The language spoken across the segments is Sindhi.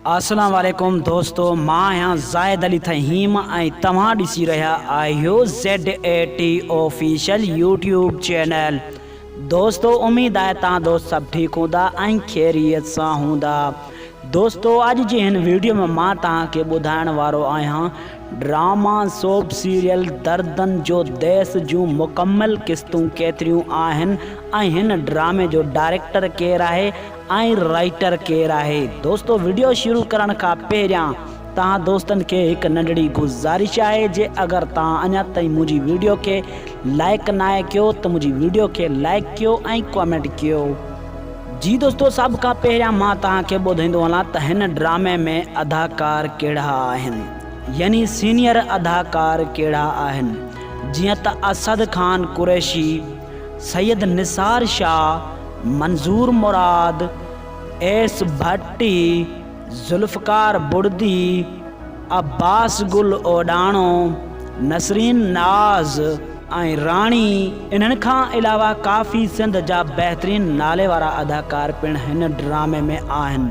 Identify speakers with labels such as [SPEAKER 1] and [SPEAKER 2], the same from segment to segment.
[SPEAKER 1] اسلام عليڪم دوستو مان آهيان زاهد علي ٿهيم ۽ توهان ڏسي رهيا آهيو Z A T official YouTube channel دوستو اميد آهي تان دوست سڀ ٺيڪ هوندا ۽ خيريت سان هوندا دوستو اڄ جي هن ويڊيو ۾ مان توهان کي ٻڌائڻ وارو آهيان ڊراما سوپ سيريل دردن جو ديس جون مڪمل قسطون ڪيتريون آهن ۽ هن ڊرامي جو ڊائريڪٽر ڪير آهي آئين رائيٽر ڪير آهي؟ دوستو وڊيو شروع ڪرڻ کان پهريان توهان دوستن کي هڪ ننڍڙي گذارش آهي جي اگر توهان اڃا تائين منهنجي وڊيو کي لائيڪ ناهي ڪيو ته منهنجي وڊيو کي لائيڪ ڪيو ۽ ڪامينٽ ڪيو. جي دوستو سڀ کان پهريان مان توهان کي ٻڌائيندو هلان ته هن ڊرامي ۾ اداڪار ڪهڙا آهن يعني سينيئر اداڪار ڪهڙا آهن جيئن ته اسد خان قريشي، سيد نثار شاهه، منظور مراد، ايس ڀٽي، ذوالفقار بڙدي، عباس گل اوڏاڻو، نسرين ناز ۽ راڻي انهن کان علاوه ڪافي سنڌ جا بهترين نالي وارا اداڪار پڻ هن ڊرامي ۾ آهن.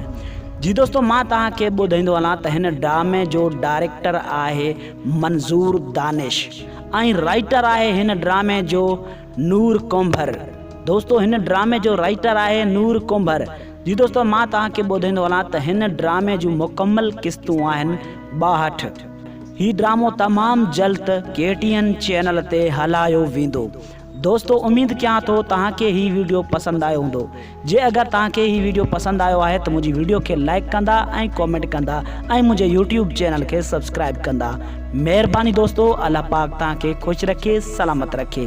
[SPEAKER 1] جي دوستو مان توهان کي ٻڌائيندو هلان ته هن ڊرامي جو ڊائريڪٽر آهي منظور دانش. ۽ رائيٽر آهي هن ڊرامي جو نور ڪنڀر دوستو هن ڊرامي جو رائيٽر آهي نور ڪنڀر جي دوستو مان توهان کي ٻڌائيندو هلان ته هن ڊرامي جون مڪمل قسطون آهن ٻاهٺ هي ڊرامو تمام جلد ڪي ٽي اين چينل تي هلايو ويندو دوستو اميد ڪيان ٿو توهان کي هي ويڊيو پسند آيو هوندو جي اگر توهان کي هي ويڊيو پسند آيو آهي ته منهنجي ويڊيو کي لائيڪ ڪندا ۽ ڪومينٽ ڪندا ۽ منهنجي يوٽيوب چينل کي سبسڪرائيب ڪندا مهرباني دوستو الله پاڪ توهان کي خوش رکي سلامت رکي.